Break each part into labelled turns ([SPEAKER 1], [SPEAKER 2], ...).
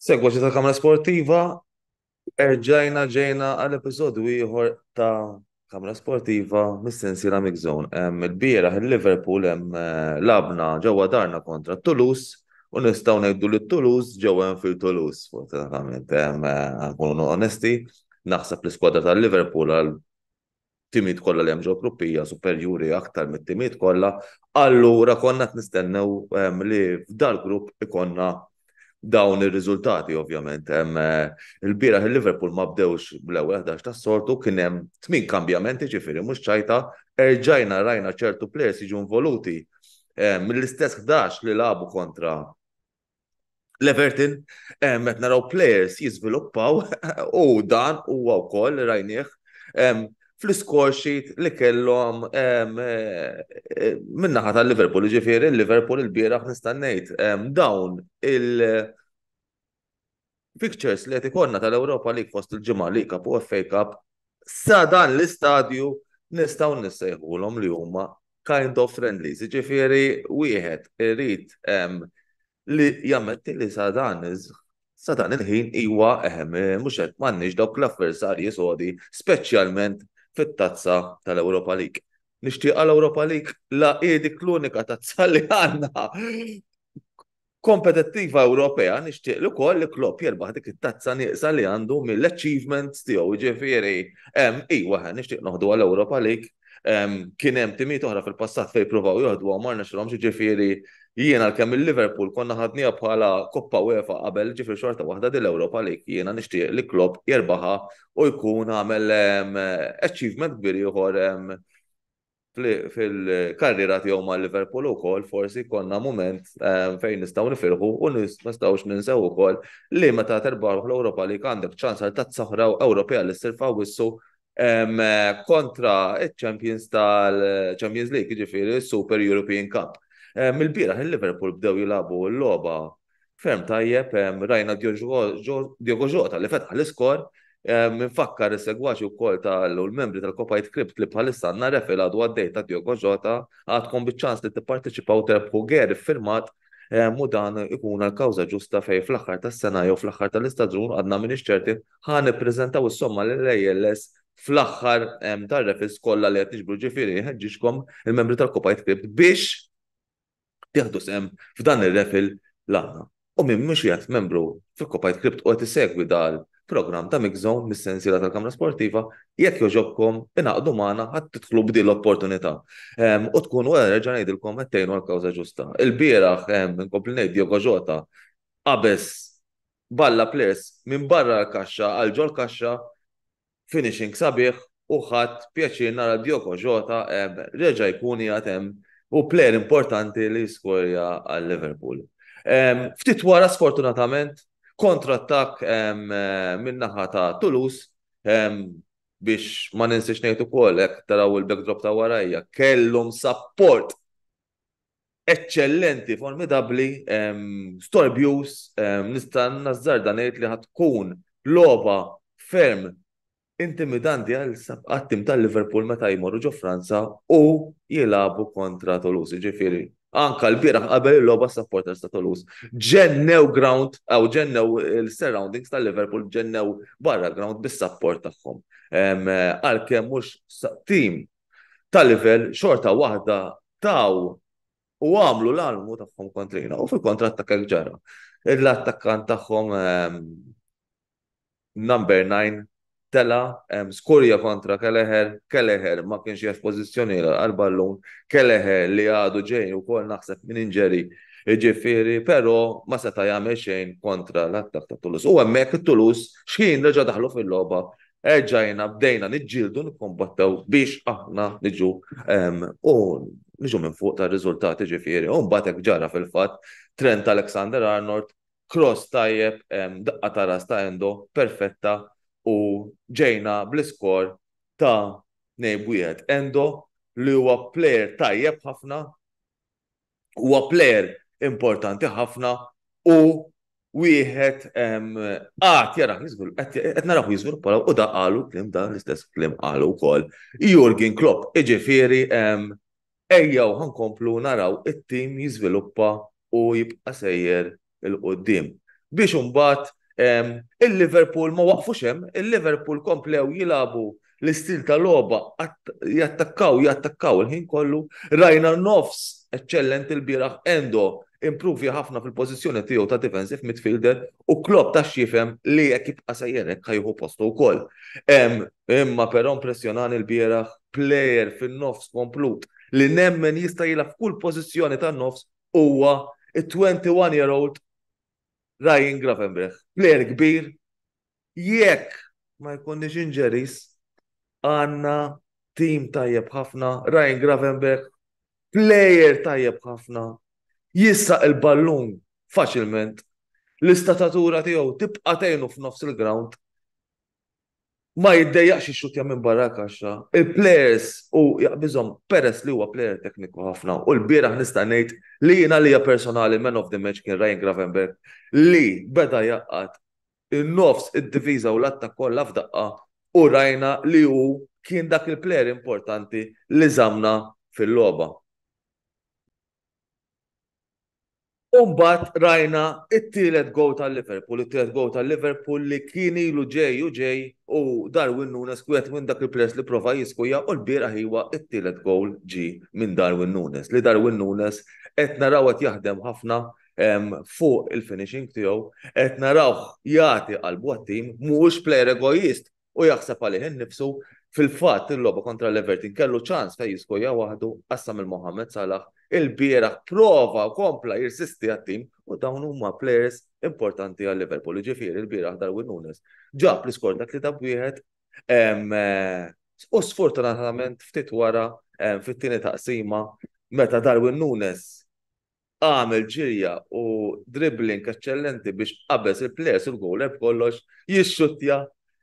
[SPEAKER 1] Segwaċi ta' Kamra Sportiva, erġajna ġejna għal episodju ieħor ta' Kamra Sportiva mis-sensiela Mix Zone. Em, Il-bieraħ il-Liverpool hemm eh, labna ġewwa darna kontra Toulouse u nistgħu ngħidu li Toulouse ġewwa hemm fil Toulouse, fortunatament. Em, eh, Nkunu onesti, naħseb l-iskwadra tal-Liverpool għal timiet kollha li hemm ġol gruppi hija superjuri aktar mit-timiet kollha, allura konna qed nistennew li f'dal-grupp ikonna dawn ir-riżultati ovvjament. Il-bieraħ il-Liverpool ma bdewx bl-ewwel ħdax tas-soltu, kien hemm tmien kambjamenti ġifieri mhux ċajta, erġajna rajna ċertu plejers jiġu involuti mill-istess ħdax li lagħbu kontra L-Everton eh, qed naraw players jiżviluppaw u dan huwa wkoll rajnieh fl-score sheet li kellhom eh, eh, minnaħa tal-Liverpool, ġifieri l-Liverpool il-bieraħ nista' ngħid dawn il- Pictures li qed ikollna tal-Ewropa League fost il-ġimgħa li Cup u FA Cup sa dan l-istadju nistgħu nissejħulhom li huma kind of friendly. Ġifieri wieħed irid li jammetti li sa dan sa dan il-ħin iwa eħem eh, mhux qed m'għandniex dawk l-avversarji sodi speċjalment fit-tazza tal-Ewropa League. Nixtieq għal Ewropa League la edik l-unika tazza li għandna. kompetittiva Ewropea nixtieq li wkoll li Klopp jerbaħ dik it-tazza nieqsa li għandu mill-achievements tiegħu ġifieri iwa nixtieq noħdu għal Ewropa League kien hemm timiet oħra fil-passat fejn provaw joħdu għamar nexilhom ġifieri jiena l-kemm il-Liverpool konna ħadniha bħala Koppa UEFA qabel ġifieri xorta waħda din l-Ewropa League jiena nixtieq li Klopp jerbaħa u jkun għamel achievement kbir ieħor fil-karriera tiegħu ma' Liverpool ukoll forsi konna mument ehm, fejn nistgħu nifirħu u nistgħux ninsew ukoll li meta terbaħ l-Ewropa li għandek ċans għal tazza oħra Ewropea li ssir fawissu ehm, kontra iċ-Champions tal-Champions League, ġifieri Super European Cup. Ehm, il-bieraħ il-Liverpool bdew jilagħbu l-logħba Ferm tajjeb, rajna Diogo Jota li fetħ l-iskor, minfakkar is-segwaċi wkoll tal-membri tal-Kopa Jitkrib li bħalissa għandna refil għadu għaddej ta' Diogo Jota, għadkom biċ-ċans li tipparteċipaw u terbħu ger iffirmat u dan ikun għal kawża ġusta fejn fl-aħħar tas-sena jew fl-aħħar tal-istaġun għadna m'iniex ċerti ħa nippreżentaw is-somma lill-ALS fl-aħħar tar-refils kollha li qed niġbru ġifieri nħeġġiġkom il-membri tal-Kopa Jitkrib biex jieħdu sehem f'dan ir-raffle l-għana u min mhux qiegħed membru f'Copied Crypt u qed isegwi dal programm ta' MixZone mis-sensiela tal-Kamra Sportiva, jekk jogħġobkom ingħaqdu magħna ħadd tidħlu b'din l-opportunità. Ehm, u tkun wara reġa' ngħidilkom qed tgħinu l-kawża ġusta. Il-bieraħ ehm, inkompli ngħid Diogo Jota qabeż balla players minn barra l-kaxxa għal ġol kaxxa Finishing sabiħ u ħadt pjaċir nara Diogo Jota reġa' jkun qiegħed hemm u player importanti li jiskorja għal Liverpool. Ftit wara sfortunatament kontrattakk min-naħa ta' Toulouse biex ma ninsiex ngħid ukoll hekk taraw il-backdrop ta' warajja kellhom sapport eccellenti, formidabli, storbjus, nista' nazzar dan li ħatkun loba ferm intimidanti għal għattim tal-Liverpool meta jmorru ġo Franza u jilabu kontra Toulouse, ġifiri. Anka l-biraħ qabel il-loba supporters ta' Toulouse. Ġennew ground, għaw ġennew il-surroundings tal-Liverpool, ġennew barra ground bis-support tagħhom. Għalkemm mhux tim ta' livell xorta waħda taw u għamlu l-almu tagħhom kontrina u fil-kontra attakka ġara. L-attakkant tagħhom ehm, number 9 tela ehm, skurja kontra Keleher, Keleher ma kienx jaf pożizzjoni għal-ballun, Keleher li għadu ġejn u kol naħseb minn inġeri Ġifiri, pero ma seta jagħmel xejn kontra l-attak ta' Toulouse. U hemmhekk Toulouse xħin reġa' daħlu fil-logħba erġajna bdejna niġġieldu nikkombattew biex aħna niġu u niġu minn fuq ta' riżultati ġifieri. U mbagħad hekk ġara fil-fatt Trent Alexander Arnold, cross tajjeb, daqqa ta' ras ta' Endo, perfetta u ġejna bl-iskor ta' nejb wieħed. Endo li huwa player tajjeb ħafna, huwa plejer importanti ħafna u wieħed għad jara jiżgur, qed naraw jiżgur pala u da qalu klim dan l-istess klim qalu wkoll. Jurgen Klopp, iġifieri ejjew ħankomplu naraw it-tim jiżviluppa u jibqa' sejjer 'il quddiem. Biex imbagħad il-Liverpool ma waqfux hemm, il-Liverpool komplew jilagħbu l-istil ta' logħba jattakkaw, jattakkaw il-ħin kollu. Rajna nofs eċċellenti l-bieraħ, Endo improvja ħafna fil-pożizzjoni tiegħu ta' defensive midfielder u Klopp tax jifhem li jekk jibqa' sejjer hekk ħa jieħu postu wkoll. Imma però impressjonani l-bieraħ plejer fin-nofs komplut li nemmen jista' jilgħab f'kull pożizzjoni tan-nofs huwa it-21 year old Ryan Gravenberch. Player kbir, jekk ma jkunniex injuries, għandna tim tajjeb ħafna, Ryan Gravenberch, player tajjeb ħafna, jissaq il-ballun faċilment, l-istatatura tiegħu tibqa' tgħinu f'nofs il-ground. ma jiddejjaqx ixxuttja minn barra l-kaxxa. Il-plejers hu jaqbiżhom peress li huwa plejer tekniku ħafna u lbieraħ nista' ngħid li jien għalija personali man of the match kien Ryan Gravenberch li beda jgħaqqad in-nofs, id-difiża u l-attakk kollha f'daqqa u rajna li hu kien dak il-plejer importanti li żammna fil-logħba. U mbagħad rajna t-tielet goal tal-Liverpool, it-tielet goal tal-Liverpool li kien ilu ġej u ġej u Darwin Nunes wieħed minn dak il-players li prova jiskujja u lbieraħ iwa t-tielet goal ġie minn Darwin Nunes. Li Darwin Nunes qed naraw qed jaħdem ħafna fuq il-finishing tiegħu, qed narawh jagħti qalbu għat-tim, mhuwiex player egoist, u jaħseb għalih innifsu, fil-fatt il-logħba kontra l-Everton kellu ċans fejn jiskoja waħdu qassam il-Mohammed Salah il-bieraħ prova kompla jirsisti għat-tim u dawn huma players importanti għal Liverpool. Ġifieri l-bieraħ Darwin Nunes ġab l-iskor dak li tab wieħed eh, u sfortunatament ftit wara fit-tieni taqsima meta Darwin Nunes għamel ġirja u dribbling eċċellenti biex qabeż il-players u l-goaler b'kollox jixxuttja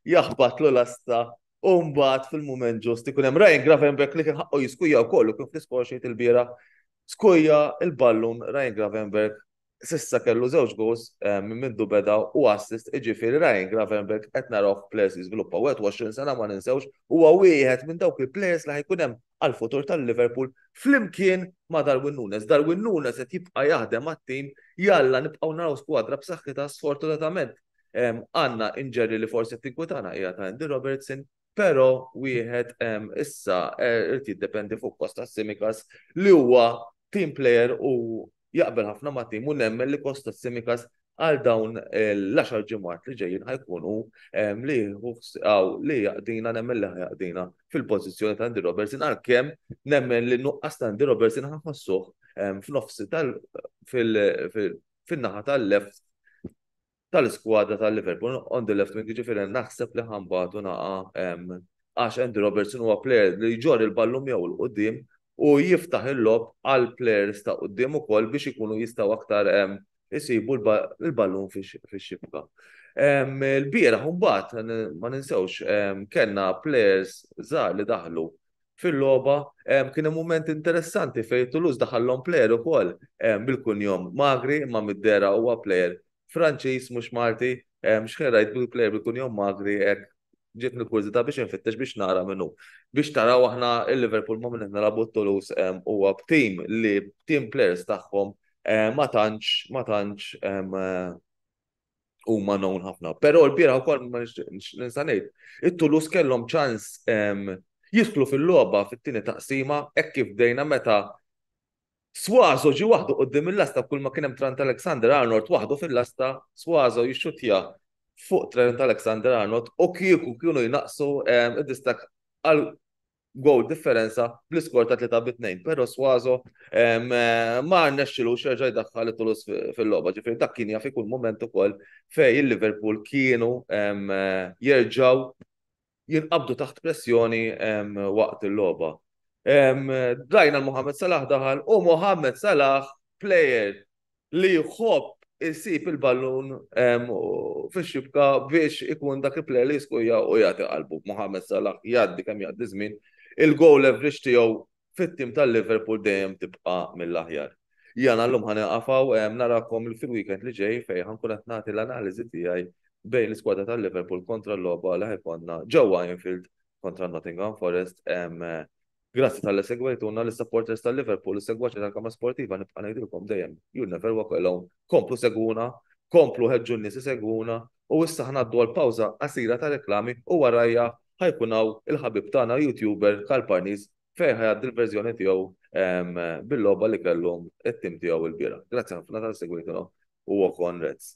[SPEAKER 1] jaħbatlu lasta u mbagħad fil-mument ġust ikun hemm Ryan Gravenbeck li kien ħaqqu jiskuja wkoll u kien fl-iskor xejn il-bira skuja il-ballun Ryan Gravenberg sissa kellu żewġ goals eh, minn mindu beda u assist iġifieri Ryan Gravenberg qed naraw players jiżviluppaw 21 sena ma ninsewx huwa wieħed minn dawk il-players li ħajkun hemm għall-futur tal-Liverpool flimkien ma' Darwin Nunes. Darwin Nunes qed jibqa' jaħdem mat-tim jalla nibqgħu naraw skwadra b'saħħitha sfortunatament għandna inġeri li forsi qed tinkwitana hija ta' Andy Robertson, però wieħed issa irid jiddependi fuq Kostas Tsimikas li huwa team player u jaqbel ħafna ma' tim u nemmen li Kostas Simikas għal dawn l-10 ġimgħat li ġejjin ħajkunu li għaw li jaqdina nemmen li jaqdina fil-pożizzjoni ta' Andy Robertson għalkemm nemmen li nuqqas ta' Andy Robertson ħafassuh f'nofsi tal fin-naħa tal-left tal-iskwadra ta' Liverpool on the left wing jiġifieri naħseb li ħambatu naqa' hemm għax Andy Robertson huwa plejer li jġorr il-ballun miegħu 'l quddiem u jiftaħ il-logħob għal plejers ta' quddiem ukoll biex ikunu jistgħu aktar isibu l-ballun fix-xibka. Il-bieraħ imbagħad ma ninsewx kellna plejers żgħar li daħlu fil-logħba kien hemm mument interessanti fejn Toulouse daħallhom plejer ukoll bil-kunjom Magri imma mid-dera huwa plejer Franċiż mhux Malti x'ħin rajt bil-plejer bil-kunjom Magri hekk ġiet nil-kurżità biex infittex biex nara minnu. Biex taraw aħna il-Liverpool ma' minn qed nilagħbu Toulouse huwa b'tim li tim plejers tagħhom ma tantx ma tantx huma known ħafna. Però l-bira wkoll ma nista' ngħid. It-Tulus kellhom ċans ehm, jidħlu fil-logħba fit-tieni taqsima hekk kif bdejna meta Swazo ġi waħdu qoddim il-lasta kull ma kien hemm Trent Alexander Arnold waħdu fil-lasta Swazo jixxutja fuq Trent Alexander Arnold u kieku kienu jnaqsu ehm, id-distak għal goal differenza bl-iskor ta' 3 bit 2 pero Swazo ma rnexxilu xerġa jdaħħal it-tulus fil-logħba. Ġifieri dak kien jaf ikun moment ukoll fej il-Liverpool kienu jerġgħu jinqabdu taħt pressjoni waqt il-logħba. Dajna l-Mohamed Salah daħal u Mohamed Salah player li jħobb isib il-ballun fix-xibka biex ikun dak il-player li jiskuja u jagħti qalbu. Mohamed Salah jgħaddi kemm jgħaddi żmien, il-goal average tiegħu fit-tim tal-Liverpool dejjem tibqa' mill-aħjar. Jana llum ħani qafaw narakom fil-weekend li ġej fejn ħankun qed nagħti l-analiżi tiegħi bejn l-iskwadra tal-Liverpool kontra l-logħba li ħajkonna ġewwa Anfield kontra Nottingham Forest Grazzi talli segwejtuna, lis-supporters ta' Liverpool, is-segwaċi tal-kamra sportiva nibqa' ngħidilkom dejjem, you'll never walk alone. Komplu segwuna, komplu ħeġġu n-nies isegwuna, u issa ħa ngħaddu għal pawża qasira ta' reklami u warajha ħa jkun hawn il-ħabib tagħna YouTuber Karl Parnis fejn ħa jgħaddi l-verżjoni tiegħu bil-logħba li kellu t-tim tiegħu l-bieraħ. Grazzi ħafna talli segwejtuna u walk on Reds.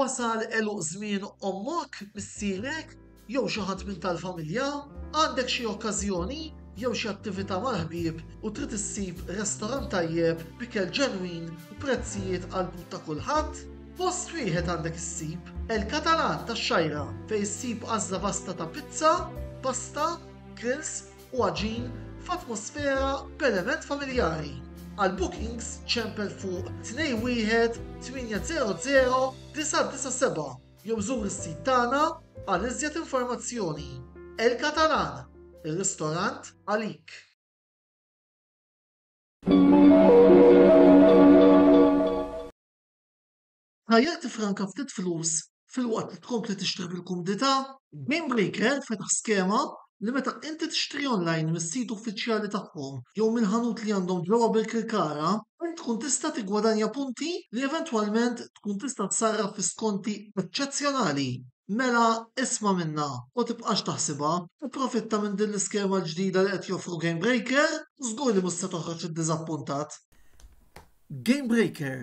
[SPEAKER 2] Wasal għeluq żmien ommok, missierek, jew xi ħadd minn tal-familja? Għandek xi okkażjoni jew xi attività mal-ħbieb u trid issib restorant tajjeb b'ikel ġenwin u prezzijiet għall-but ta' kulħadd? Post wieħed għandek issib, El Catalan tax-Xgħajra, fejn issib għażla vasta ta' pizza, pasta, grills, u għaġin f'atmosfera b'element familjari. Għal bookings ċempel fuq 21800-997 jew żur is-sit tagħna għal iżjed informazzjoni. El Catalan, ir-ristorant għalik! Tajjeb tiffranka ftit flus filwaqt li tkompli tixtri bil-kumdità. GameBreaker fetaħ skema li meta inti tixtri online mis-sit uffiċjali tagħhom jew mill-ħanut li għandhom ġewwa Birkirkara, int tkun tista' tiggwadanja punti li eventwalment tkun tista' tsarraf fi skonti eċċezzjonali. Mela isma' minnha u tibqax taħsibha, ipprofitta minn din l-iskema l-ġdida li qed joffru GameBreaker u żgur li mhux se toħroġ iddiżappuntat. GameBreaker,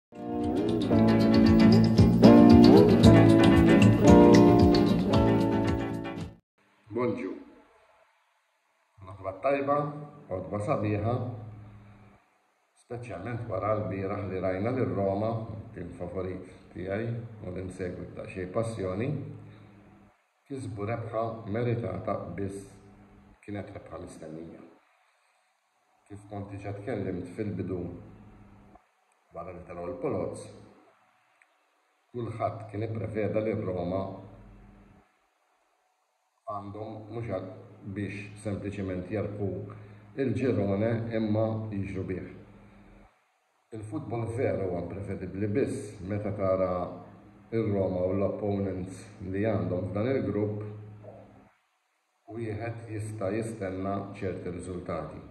[SPEAKER 3] Bonġu. L-aħbar tajba, għodba sabiħa, speċjalment wara l-bieraħ li rajna li Roma, tim favorit tiegħi u li nsegwi ta' xej passjoni, kisbu rebħa meritata biss kienet rebħa mistennija. Kif kont diġà tkellimt fil-bidu wara li telgħu l-Poloz, kulħadd kien ippreveda li r-Roma għandhom mhux għad biex sempliċement jerbħu l-Girone imma jiġru bih. Il-futbol vera huwa imprevedibbli biss meta tara r-Roma u l-opponents li għandhom f'dan il-grupp. wieħed jista' jistenna ċerti riżultati.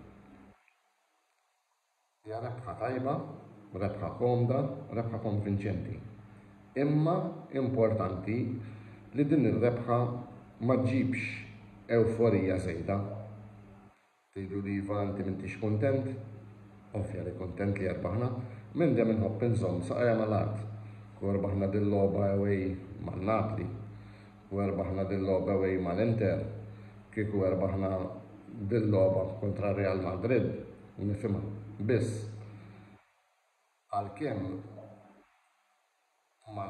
[SPEAKER 3] Hija rebħa tajba, rebħa komda, rebħa konvinċenti. Imma importanti li din ir-rebħa ma ġġibx ewforija żejda. Tgħidlu li iva inti m'intix kuntent? Ovvja li kuntent li erbaħna. Minn dejjem inħobb inżomm saqajja mal-art. U erbaħna dil-logħba away ma' Napli. U erbaħna dil-logħba away mal-Inter. Kieku erbaħna dil-logħba kontra Real Madrid nifhimha. Biss għalkemm. Imma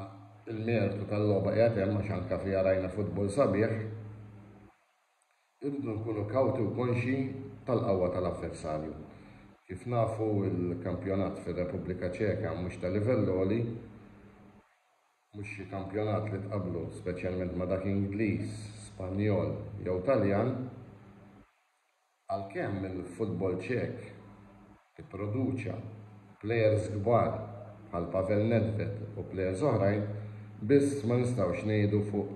[SPEAKER 3] l-mertu tal-logħba qiegħed hemm għax anke fiha rajna futbol sabiħ. Irridu nkunu kawti u konxji tal-qawwa tal-avversarju. Kif nafu l-kampjonat fir-Repubblika Ċeka mhux ta' livell għoli, mhux xi kampjonat li tqabblu speċjalment ma' dak Ingliż, Spanjol jew Taljan. Għalkemm il-futbol Ċek ipproduċa plejers kbar bħal Pavel Nedved u plejers oħrajn, biss ma nistgħux ngħidu fuq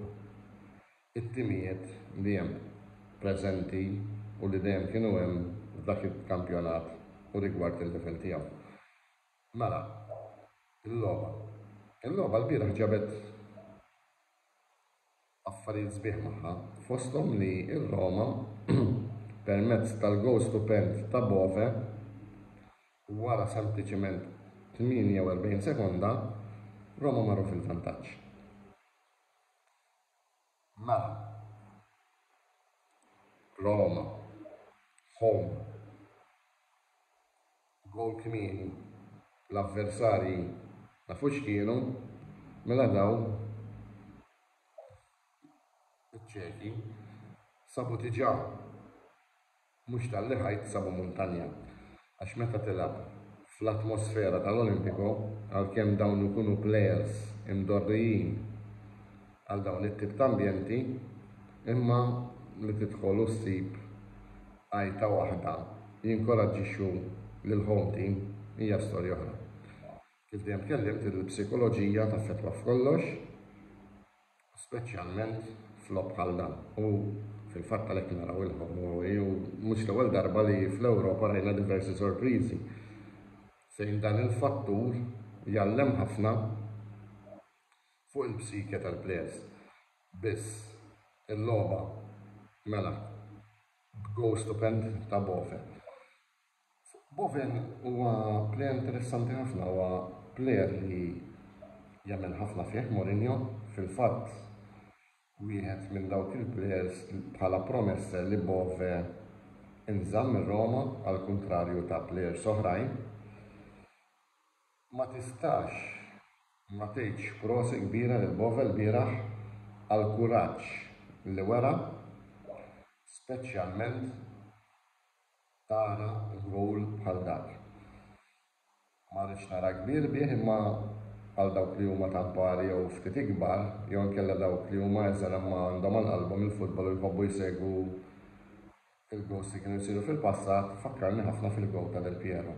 [SPEAKER 3] it-timijiet li hemm preżenti u li dejjem kienu hemm f'dak il-kampjonat u rigward il-livell tiegħu. Mela, il-logħba. Il-logħba lbieraħ ġabet affarijiet sbieħ magħha, fosthom li r-Roma, permezz tal-gowl stupend ta' Bove, wara sempliċement 48 sekonda, Roma marru fil-vantaġġ. Mela, Roma, home. Goal kmieni, l-avversarji nafu x'kienu, mela dawn iċ-Ċeki sabu diġà mhux talli ħajt sabu muntanja għax meta tilgħab fl-atmosfera tal-Olimpico għalkemm dawn ikunu plejers imdorrijin għal dawn it-tip ta' ambjenti imma li tidħol u ssib għajta waħda jinkoraġġixxu lill-home team hija storja oħra. Kif dejjem tkellimt il-psikoloġija taffettwa f'kollox u speċjalment f'logħob bħal dan u fil-fatt għalhekk naraw il-home away u mhux l-ewwel darba li fl-Ewropa rajna diversi sorpriżi fejn dan il-fattur jgħallem ħafna Fuq il-psike tal-players biss il-logħba mela b'gowl stupend ta' Bove. Bove huwa player interessanti ħafna, huwa player li jemmen ħafna fih Mourinho, fil-fatt wieħed minn dawk il-players bħala promesse li Bove inżamm ir-Roma għall-kuntrarju ta' players oħrajn. Ma tistax ma tgħidx prosi kbira lil Bove lbieraħ għall-kuraġġ li wera, speċjalment tara goal bħal dak. Ma rridx nara kbir bih imma għal dawk li huma ta' kbar jew ftit ikbar jew inkella dawk li huma eżel imma għandhom għal qalbhom il-futbol u jħobbu jsegwu l-goals li kienu jsiru fil-passat, fakkarni ħafna fil-goal ta' Del Piero.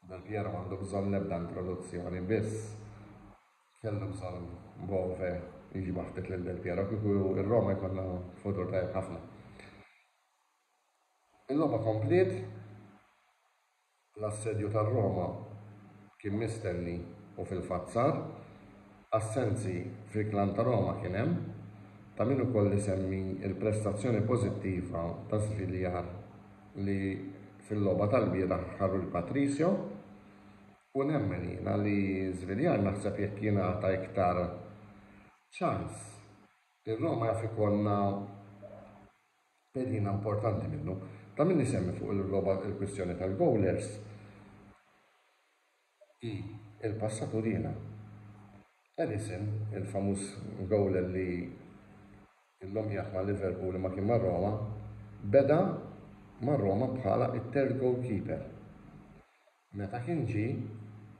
[SPEAKER 3] Del Piero m'għandu bżonn l-ebda introduzzjoni, biss kellu bżonn Bove jiġbad ftit lil Del Piero, kieku r-Roma jkollha futur tajjeb ħafna. Il-logħba kompliet, l-assedju tar-Roma kien mistenni u fil-fatt sar, assenzi fil-klan ta' Roma kien hemm, ta' min ukoll isemmi l-prestazzjoni pożittiva ta' Sviljar. li fil-logħba tal-bieraħ ħarru lil Patricio u nemmen jiena li Żviljar naħseb jekk jingħata iktar ċans ir-Roma jaf ikollna pedina importanti minnu. Ta' min isemmi fuq il-logħba il-kwistjoni tal-goalers Hi l-passat u riena. Alisson, il-famuż gowler li llum jgħadd ma' Liverpool imma kien ma' Roma, beda ma' Roma bħala t-third goalkeeper. Meta kien ġie,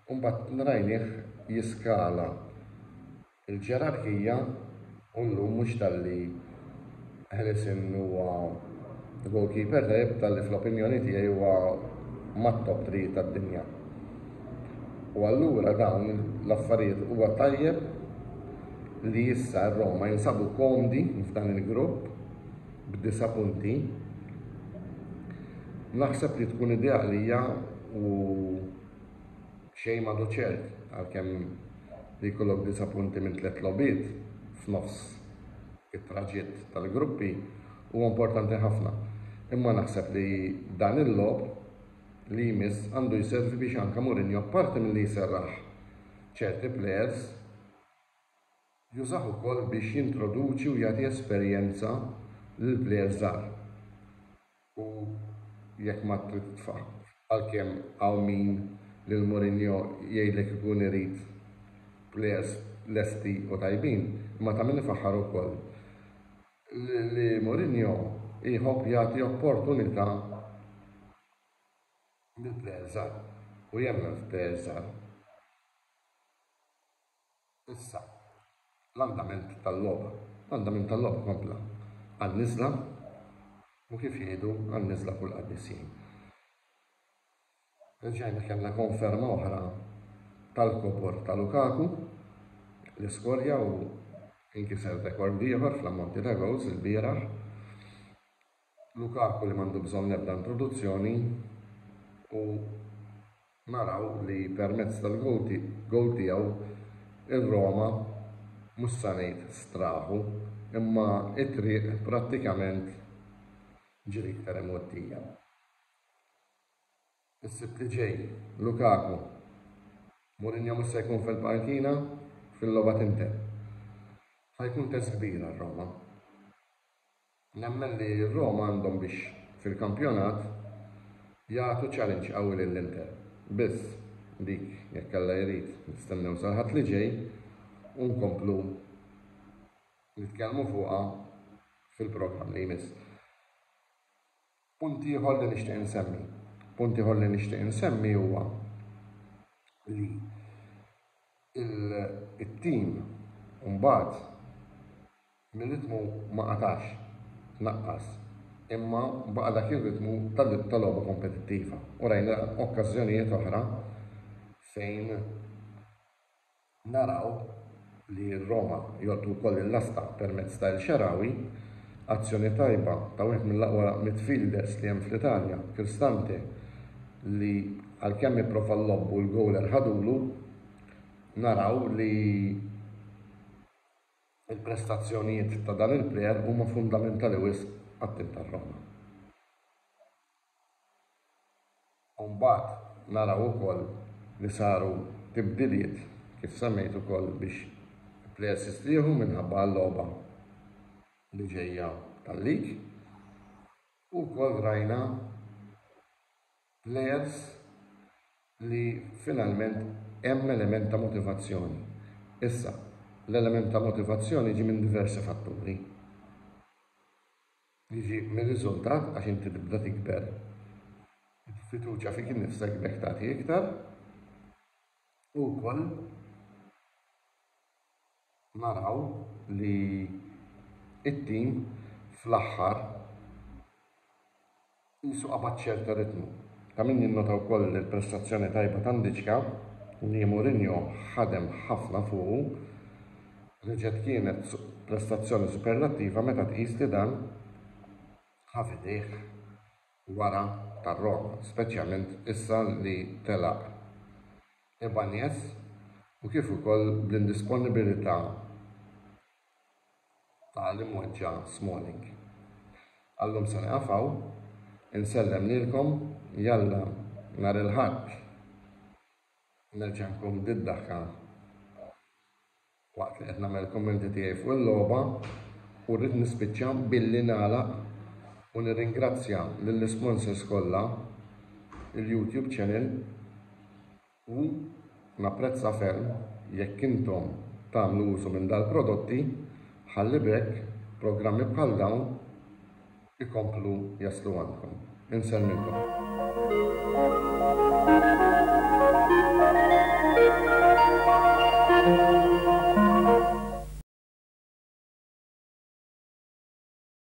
[SPEAKER 3] u mbagħad rajnieh jiskala. Il-ġerarkija u llum mhux talli Hlesen huwa goalkeeper tajjeb talli fl-opinjoni tiegħi huwa mat-top three tad-dinja. U allura dawn l-affarijiet huwa tajjeb li issa r-Roma jinsabu komdi f'dan il-grupp b'disa' punti. Naħseb li tkun idea għalija u Xejn m'għadu ċert għalkemm li jkollok disa' punti minn tliet logħbiet f'nofs it-traġitt tal-gruppi huwa importanti ħafna, imma naħseb li dan il-logħob li jmiss għandu jservi biex anke Mourinho apparti milli jserraħ ċerti plejers, Jużah ukoll biex jintroduċi u jagħti esperjenza lil plejers żgħar u jekk ma trid titfah. Għalkemm hawn min lil Mourinho jgħidlek ikun irid plejers lesti u tajbin, imma ta' min ifaħħar ukoll li Mourinho jħobb jagħti opportunità lil plejers żgħar u jemmen f'plejers żgħar. Issa, l-andament tal-logħba. L-andament tal-logħba kompla għan-niżla u kif jgħidu għan-niżla kull qaddisin. Reġgħajna kellna konferma oħra tal-kobor ta' Lukaku li skorja u inkiser rekord ieħor fl-ammonti ta' goals il-bieraħ. Lukaku li m'għandu bżonn l-ebda introduzzjoni u naraw li permezz tal-gowl tiegħu r-Roma mhux sa ngħid straħu imma t-triq prattikament ġiet iktar imgħoddija. Is-Sibt li ġej, Lukaku, Mourinho mhux se jkun fil-pankina fil-logħba t'Inter. Ħa jkun test kbir għar-Roma. Nemmen li r-Roma għandhom biex fil-kampjonat jagħtu challenge qawwi lill-Inter. Biss, dik, jekk Alla jrid, nistennew sal-Ħadd li ġej u nkomplu nitkellmu fuqha fil-programm li jmiss. Punt ieħor li nixtieq insemmi. Punt ieħor li nixtieq insemmi huwa li il-tim mbagħad mir-ritmu ma qatax, naqqas, imma baqa' dak ir-ritmu ta' logħba kompetittiva u rajna okkażjonijiet oħra fejn Naraw li r-Roma jgħoddu wkoll il-lasta permezz ta' El Shaarawy. Azzjoni tajba ta' wieħed mill-aqwa midfielders li hemm fl-Italja, Cristante, li għalkemm ipprova l-lob u l-goaler ħadulu, naraw li l-prestazzjonijiet ta' dan il-player huma fundamentali wisq għat-tim tar-Roma. u mbagħad naraw ukoll li saru tibdiliet kif semmejt ukoll biex plejers jistrieħu minħabba għal-logħba li ġejja tal-league u wkoll rajna plejers li finalment hemm element ta' motivazzjoni. Issa, l-element ta' motivazzjoni jiġi minn diversi fatturi. Jiġi mir-riżultat għax inti tibda tikber. Il-fiduċja fik innifsek b'hekk tagħti iktar u wkoll naraw li t-tim fl-aħħar Qisu qabad ċerta ritmu. Ta' min jinnota wkoll li l-prestazzjoni tajba ta' Ndicka, li Mourinho ħadem ħafna fuqu, reġgħet kienet prestazzjoni superlattiva meta tqis li dan ħa f'idejh wara tar-Roma, speċjalment issa li telaq Ibanez u kif ukoll bl-indisponibilità ta' qal imweġġa' Smalling. Għallum se nieqaf hawn, insellem lilkom, jalla nhar il-Ħadd nerġa' nkun bid-daħka waqt li qed nagħmel il-kummenti tiegħi fuq il-logħba u rrid nispiċċa billi nagħlaq u nirringrazzja lill-isponsors kollha, il-YouTube channel, U napprezza ferm jekk intom tagħmlu użu minn dal-prodotti ħalli b'hekk programmi bħal dawn ikomplu jaslu għandkom. Insellmilkom.